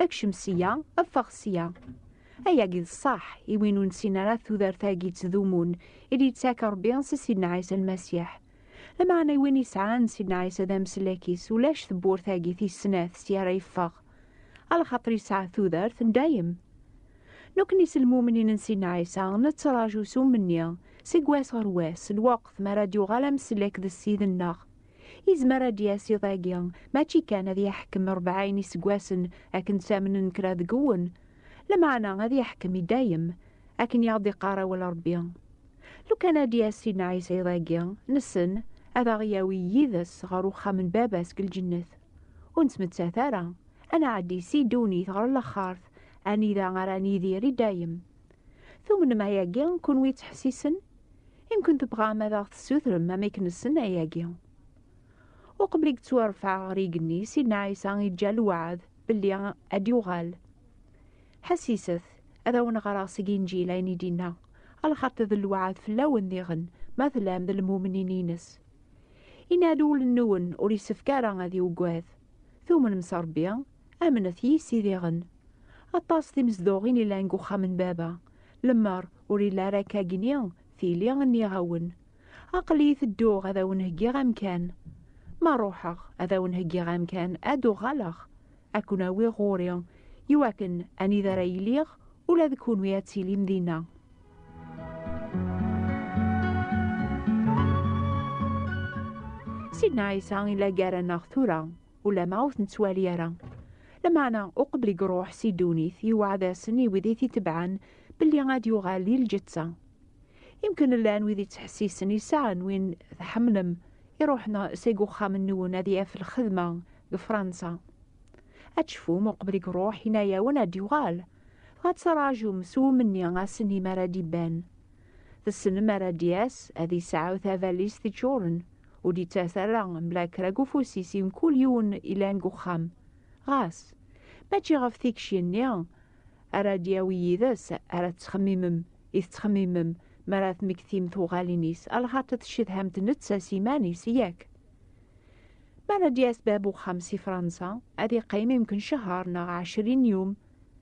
Ekcem sya, ffeɣ sya. Ayagi d ṣṣeḥ i win ur nessin ara tudert-agi ttdumun i d-yettak Rebbi si Sidna Ɛisa Lmasiḥ. Lameɛna i win yesɛan Sidna Ɛisa d ameslak-is ulac tewwurt-agi tis snat sya ara yeffeɣ. A lxaṭer yesɛa tudert n dayem. Nekkni s lmumnin n Sidna Ɛisa nettraǧu s umenni, seg wass ɣer wass, lweqt mi ara d-yuɣal ameslak d Ssid-nneɣ. Izmer ad d-yas iḍ-agi, mačči kan ad yeḥkem rebɛin iseggasen akken ttamnen kra deg-wen, lameɛna ad yeḥkem i dayem, akken i aɣ-d-iqqar awal Rebbi. Lukan ad d-yas Sidna Ɛisa iḍ-agi, nessen ad aɣ-yawi yid-s ɣer uxxam n Baba-s deg lǧennet. Ur nettmettat ara, ad nɛeddi si ddunit ɣer lexxart, anida ara nidir i dayem. Tumnem ayagi, kunwi yettḥessisen? Imken tebɣam ad aɣ-tessutrem amek nessen ayagi. Uqbel i yettwarfeɛ ɣer yigenni, Sidna Ɛisa iǧǧa lweɛd belli ad d-yuɣal. Ḥessiset, ad awen-ɣreɣ seg Inǧil ayen i d-inna, alxaṭi d lweɛd fell-awen diɣen ma tlam d lmumnin-ines. Inna-d, Ul-nwen ur isefk ara ad iweggad. Tumnem s Rebbi, Amnet yisidiɣen. Aṭas timezduɣin ilan deg uxxam n baba. Lemmer ur illa ara akka gni, tili nniɣ-awen. Aql-iyi tedduɣ ad awen-heggiɣ amkan. Ma ruḥeɣ ad awen-heggiɣ amkan ad d-uɣaleɣ, ad ken-awiɣ ɣur-i, iwakken anida ara iliɣ ula d kunwi ad tilim dinna. Sidna Ɛisa i la gar-aneɣ tura. Ulamma ur ten-ttwali ara. Lameɛna, uqbel i iruḥ si ddunit, yewɛed-asen i wid i t-itebɛen belli ad d-yuɣal di lǧetta. Imken llan wid ittḥessisen i sseɛa n win tḥemmlem, iruḥen seg uxxam-nwen ad yaf lxedma deg Fransa. Ad tecfum, uqbel i iruḥ, yenna-yawen ad d-yuɣal. Dɣa ad ttraǧum s wemni ass-nni mi ara d-iban. Tessnem mi ara d-yas, ad yesɛu tabalizt iččuren. ur d-yettɛas ara mebla kra deg ufus-is i mkul yiwen yellan deg uxxam. Ɣas, mačči ɣef tikci-nni ara d-yawi yid-s ara tettxemmimem i tettxemmimem mi ara temmektim tuɣalin-is, lxaṭi tcedham-t netta s yiman-is, yak? Mi ara d-yas bab uxxam si Fransa, ad yeqqim yemken cehher neɣ ɛecrin n yum,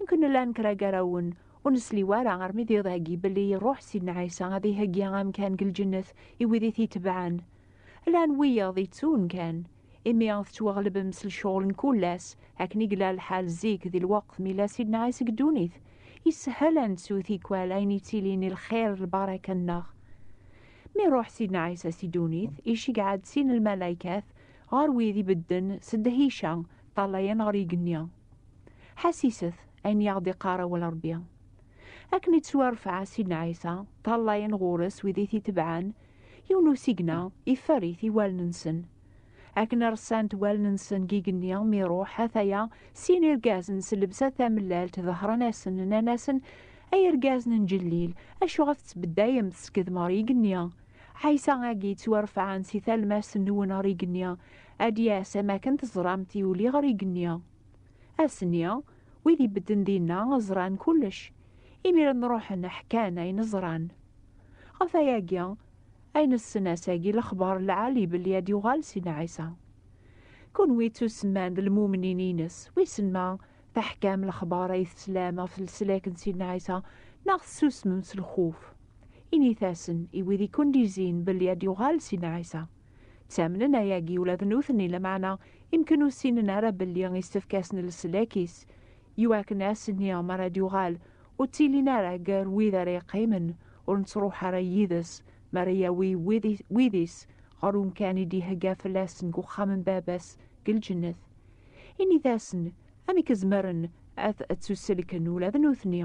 Inkun llan kra garawen ur nesli wara armi d iḍ-agi belli iruḥ Sidna Ɛisa ad iheggi amkan deg lǧennet i wid i t-itebɛen. Llan wiyaḍ yettun kan, imi tettwaɣlebem s lecɣel n kul ass, akken i yella lḥal zik di lweqt mi yella Sidna Ɛisa deg ddunit. Yessehhel ad nettu tikwal ayen yettilin i lxir d lbaraka-nneɣ. Mi iruḥ Sidna Ɛisa si ddunit, iceggeɛ-d sin n lmalaykat ɣer wid ibedden s ddhica, ṭṭalayen ɣer yigenni. Ḥasiset ayen i aɣ-d-iqqar awal Ṛebbi. Akken i ttwarfeɛ Sidna Ɛisa, ṭallayen ɣur-s wid i t-itebɛen, yiwen usigna iferr-it i wallen-nsen. Akken ressant wallen-nsen deg igenni mi iṛuḥ, ataya sin irgazen s llebsa tamellalt dehṛen-asen, nnan-asen, Ay irgazen n Ǧellil, acu ɣef ttbeddayemt teskedmem ɣer igenni? Ɛisa-agi yettwarfeɛen si talmast-nwen ɣer igenni, Ad d-yas am akken teẓramt yuli ɣer igenni. Ass-nni, wid ibedden dinna ẓran kullec. Imiren ruḥen ḥkan ayen ẓran. Ɣef ayagi, ayen ssen ass-agi lexbar lɛali belli ad d-yuɣal Sidna Ɛisa. Kunwi ttusemman d lmumnin-ines, wissen ma teḥkam lexbar ay teslam ɣef leslak n Sidna Ɛisa neɣ tessusmem s lxuf. Init-asen i wid i kent-izin belli ad d-yuɣal Sidna Ɛisa. Ttamnen ayagi ula d nutni, lameɛna imken ur ssinen ara belli issefk-asen leslak-is, iwakken ass-nni mi ara d-yuɣal ur ttilin ara gar wid ara yeqqimen, ur nettruḥ ara yid-s mi ara yawi wid-is ɣer umkan i d-ihegga fell-asen deg uxxam n Baba-s deg lǧennet. Init-asen amek zemren ad ttuselken ula d nutni.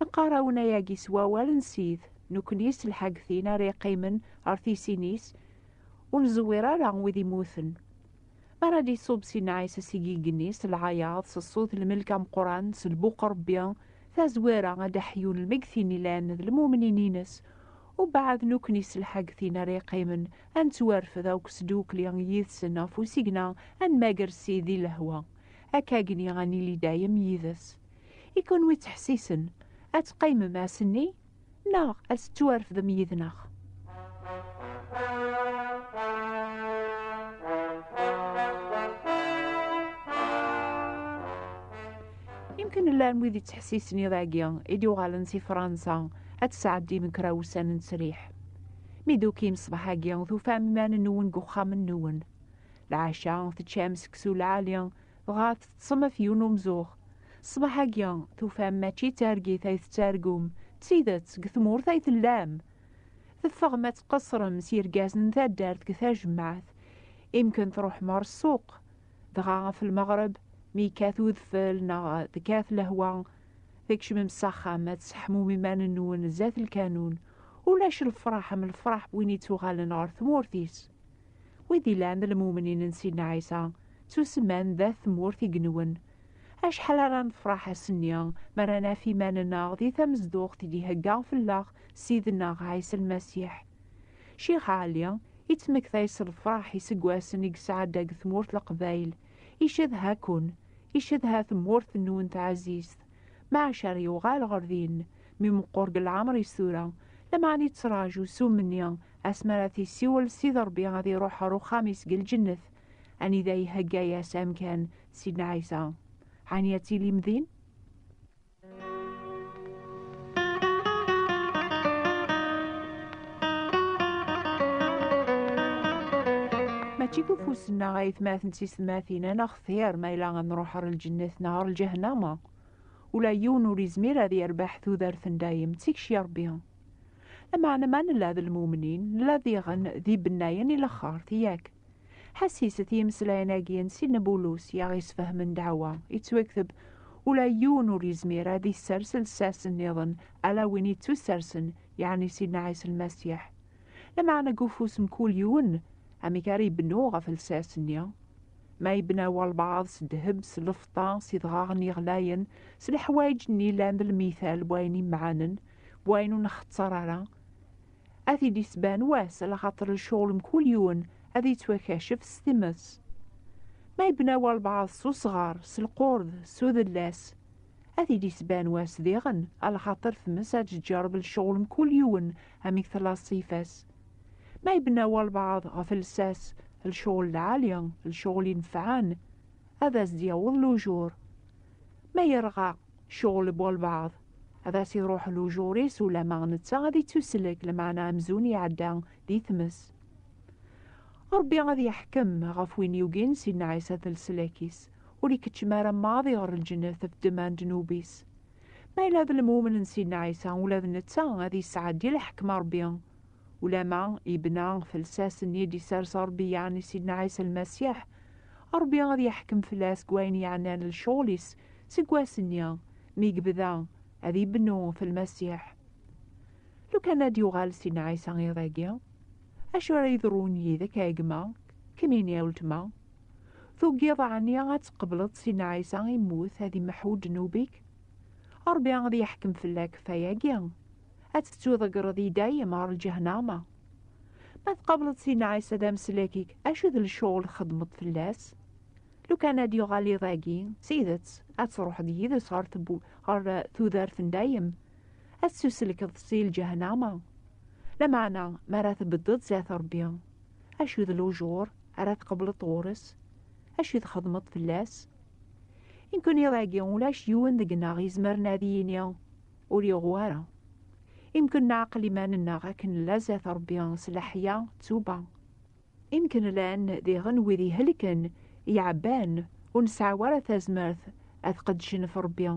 Neqqar-awen-ayagi s wawal n Sid, nekni s lḥagtin ara iqqimen ɣer tisin-is, ur neẓwir ara wid immuten. Mi ara d-iṣub si nnɛaysa seg igenni, s lɛayaḍ, s ṣṣut, lmelk ameqqran, s lbuq Rebbi, tazwara ad d-aḥyun lmegtin ilan d lmumnin-ines, ubaɛd nekni s lḥagtin ara iqqimen ad nettwarfed akk sdukli yid-sen ɣef usigna ad nmager Sid di lehwa, akkagni ad nili dayem yid-s. I kunwi ttḥessisen, ad teqqimem ass-nni neɣ ad tettwarfdem yid-neɣ? Yemkin llan wid yettḥessisen iḍ agi i d-yuɣalen si Fransa ad tesɛeddim kra wussan n ttesriḥ. Mi d-tukim ṣṣbeḥ-agi tufam iman-nwen deg uxxam-nwen. Lɛaca teččam seksu lɛali, dɣa teṭṭsem af yiwen umzuɣ. Ṣṣbeḥ-agi, tufam mačči d targit ay tettargum, d tidet, deg tmurt ay tellam! Teffɣem ad tqeṣṣrem s yergazen n taddart deg tajmaɛt, imi kan tṛuḥem ɣer ssuq. Dɣa ɣef lmeɣreb, mi yekkat udfel neɣ tekkat lehwa, tkecmem s axxam ad tesseḥmum iman-nwen sdat lkanun. Ulac lefṛaḥ am lefṛaḥ n win yettuɣalen ɣer tmurt-is. Wid ilan d lmumnin n Sidna Ɛisa, ttusemman d At tmurt i yenwen. Acḥal ara nefraḥ ass-nni mi ara naf iman-nneɣ di tamezduɣt i d-ihegga fell-aɣ Ssid-nneɣ Ɛisa Lmasiḥ! Ccix Ɛli, yettmektay s lefraḥ iseggasen i yesɛedda deg tmurt Leqbayel, icedha-ken, icedha tmurt-nwen taɛzizt. Maca ara yuɣal ɣer din, mi meqqur deg leɛmer-is tura, lameɛna yettraǧu s umenni asmi ara t-issiwel Sidi Ṛebbi ad iruḥ ɣer uxxam-is deg lǧennet, anida ihegga-yas amkan Sidna Ɛisa. Ɛni ad tilim din? Mačči d ufus-nneɣ ay tmaten d tisetmatin ad nextir ma yella ad nruḥ ɣer lǧennet neɣ ɣer lǧehennama. Ula yiwen ur yezmir ad yerbeḥ tudert n dayem, ttikci Ṛebbi. Lameɛna ma nella d lmumnin, nella diɣen d ibennayen i laxert, yak? Ḥesset i yimeslayen-agi n Sidna Bulus i aɣ-isfehmen ddeɛwa yettwakteb, Ula yiwen ur yezmir ad issers lsas nniḍen ala win yettusersen, yeɛni Sidna Ɛisa Lmasiḥ. Lameɛna deg ufus n kul yiwen, amek ara ibennu ɣef lsas-nni? Ma yebna walbaɛḍ s ddheb, s lfeṭṭa, s idɣaɣen yeɣlayen, s leḥwayeǧ-nni yellan d lmithal n wayen imɛanen, wayen ur nxetter ara ad t-id-isban wass ala xaṭer lecɣel mkul yiwen ad yettwakacef s times ma yebna walbaɛḍ s usɣar s lqurd s udellas ad t-id-isban wass diɣen ala xaṭer tmes ad tǧǧerb lecɣel mkul yiwen amek tella ṣṣifa-s ma yebna walbaɛḍ ɣef lsas lecɣel lɛali lecɣel inefɛen ad as-d-yaweḍ lujur ma yerɣa ccɣel n walbaɛḍ Ad as-iruḥ lujur-is ulamma netta ad ittuslek, lameɛna amzun iɛedda di tmes. Ṛebbi ad yeḥkem ɣef win yugin Sidna Ɛisa d leslak-is, ur ikeččem ara maḍi ɣer lǧennet ɣef ddemma n ddnub-is. Ma yella d lemumn n Sidna Ɛisa, ula d netta ad yesɛeddi lḥekma n Ṛebbi. Ulamma yebna ɣef lsas-nni i d-yessers Ṛebbi yaɣen i Sidna Ɛisa Lmasiḥ, Ṛebbi ad yeḥkem fell-as deg wayen yeɛnan lecɣel-is seg wass-nni mi yebda ad ibennu ɣef Lmasiḥ. Lukan ad d-yuɣal Sidna Ɛisa iḍ-agi, acu ara yeḍrun yid-k a gma, kemmini a weltma? Tugiḍ ɛni ad tqebleḍ Sidna Ɛisa immut ad imḥu ddnub-ik? Ṛebbi ad yeḥkem fell-ak ɣef wayagi. ad tettuḍegreḍ i dayem ɣer lǧehnama. Ma tqableḍ Sidna Ɛisa d ameslak-ik, acu d lecɣel txedmeḍ fell-as? Lukan ad yuɣal iḍ-agi, s tidet, ad truḥeḍ yid-s ɣer eh, tudert n dayem, ad tettuselkeḍ si lǧehnama. Lameɛna, mi ara tbeddeḍ zdat Rebbi, acu d lujur ara tqableḍ ɣur-s? Acu txedmeḍ fell-as? Inkun iḍ-agi ulac yiwen deg-neɣ izemren ad yini, ur yeɣwi ara. Imken neɛqel iman-nneɣ akken nla zdat Ṛebbi s leḥya d tuba. Imken llan diɣen wid ihelken, iɛebban, ur nesɛi ara tazmert ad qeddcen ɣef Ṛebbi.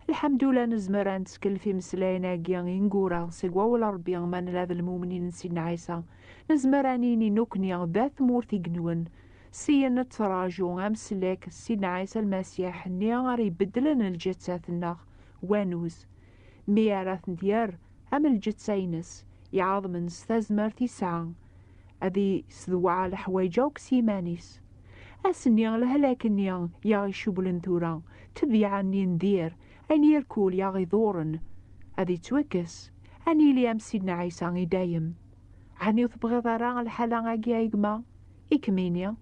Lḥemdullah nezmer ad nettkellef imeslayen-agi ineggura seg wawal n Ṛebbi ma nella d lmumnin n Sidna Ɛisa. Nezmer ad nini nekkni d at tmurt igenwen, syin nettraǧu amsellek d Sidna Ɛisa Lmasiḥ-nni ara ibeddlen lǧettat-nneɣ wanuz, mi ara tent-yerr am lǧetta-ines iɛaḍmen s tazmert isɛa, ad isedweɛ leḥwayeǧ akk s yiman-is. Ass-nni, lehlak-nni i aɣ-icewwlen tura, tebyiɛa-nni n dir, ayen irkul i aɣ-iḍurren, ad ittwakkes, ad nili am Sidna Ɛisa i dayem. Ɛni ur tebɣiḍ ara lḥala-agi a gma? I kem-ini.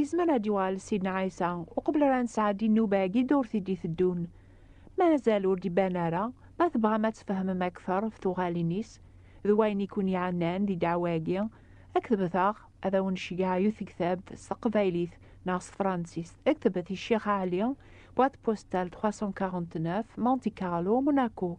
Izmer ad yuɣal Sidna Ɛisa uqbel ara nesɛeddi nnuba-agi durt i d-iteddun. Mazal ur d-iban ara, ma tebɣam ad tfehmem akteṛ ɣef tuɣalin-is d wayen i ken-iɛennan di ddeɛwa-agi, ketbet-aɣ, ad awen-nceggeɛ i tektabt s teqbaylit neɣ s tefransist. Ketbet i Ccix Ɛli, boîte postale 349, Monte-Carlo, Monaco.